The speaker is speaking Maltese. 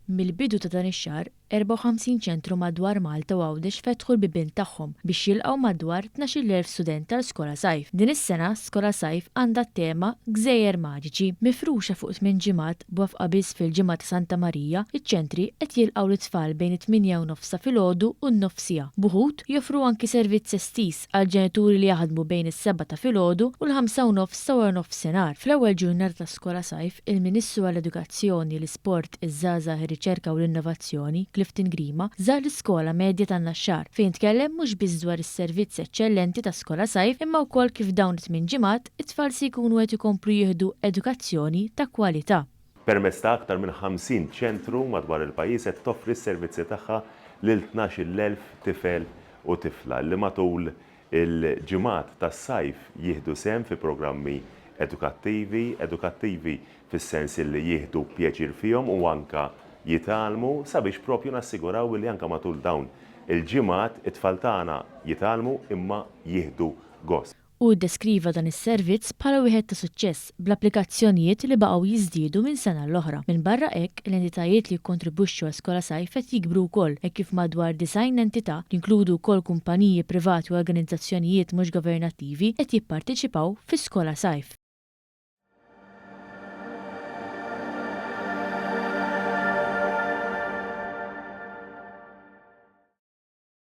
Mill-bidu ta' dan ix-xahar, 54 ċentru madwar Malta u Għawdex fetħu l-bibien tagħhom biex jilqgħu madwar 12,000 student għal Skola Sajf. Din is-sena Skola Sajf għandha t-tema Gżejjer Maġiċi. Mifruxa fuq tmien ġimgħat, b'wafqa biss fil-Ġimgħa ta' Santa Marija, iċ-ċentri qed jilqgħu lit-tfal bejn it-tmienja u nofsha filgħodu u n-nofsiegħa. B'uħud, joffru anki servizz estiż. għall-ġenituri li jaħdmu bejn is-sebgħa ta' filgħodu u l-ħamsa u nofs ta' waranofsinhar. Fl-ewwel ġurnata ta' skola sajf, il-Ministru għall-Edukazzjoni, l-Isport, iż-Żgħażagħ, ir-Riċerka u l-Innovazzjoni, Clifton Grima, żar l-Iskola Medja tan-Naxxar, fejn tkellem mhux biss dwar is-servizz eċċellenti ta' skola sajf imma wkoll kif f'dawn it-tmien ġimgħat it-tfal se jkunu qed ikomplu jieħdu edukazzjoni ta' kwalità. Permezz ta' aktar minn 50 ċentru madwar il-pajjiż qed toffri s-servizzi tagħha lil tnax-il elf tifel u tifla li matul il-ġimgħat tas-sajf jieħdu sehem fi programmi edukattivi, edukattivi fis-sens illi jieħdu pjaċir fihom u anke jitgħallmu sabiex propju nassiguraw illi anke matul dawn il-ġimgħat it-tfal tagħna jitgħallmu imma jieħdu gost. Hu ddeskriva dan is-servizz bħala wieħed ta' suċċess, bl-applikazzjonijiet li baqgħu jiżdiedu minn sena l-oħra. Minbarra hekk, l-entitajiet li jikkontribwixxu għal Skola Sajf qed jikbru wkoll, hekk kif madwar disgħin entità, li jinkludu wkoll kumpaniji privati u organizzazzjonijiet mhux governattivi, qed jipparteċipaw fi Skola Sajf.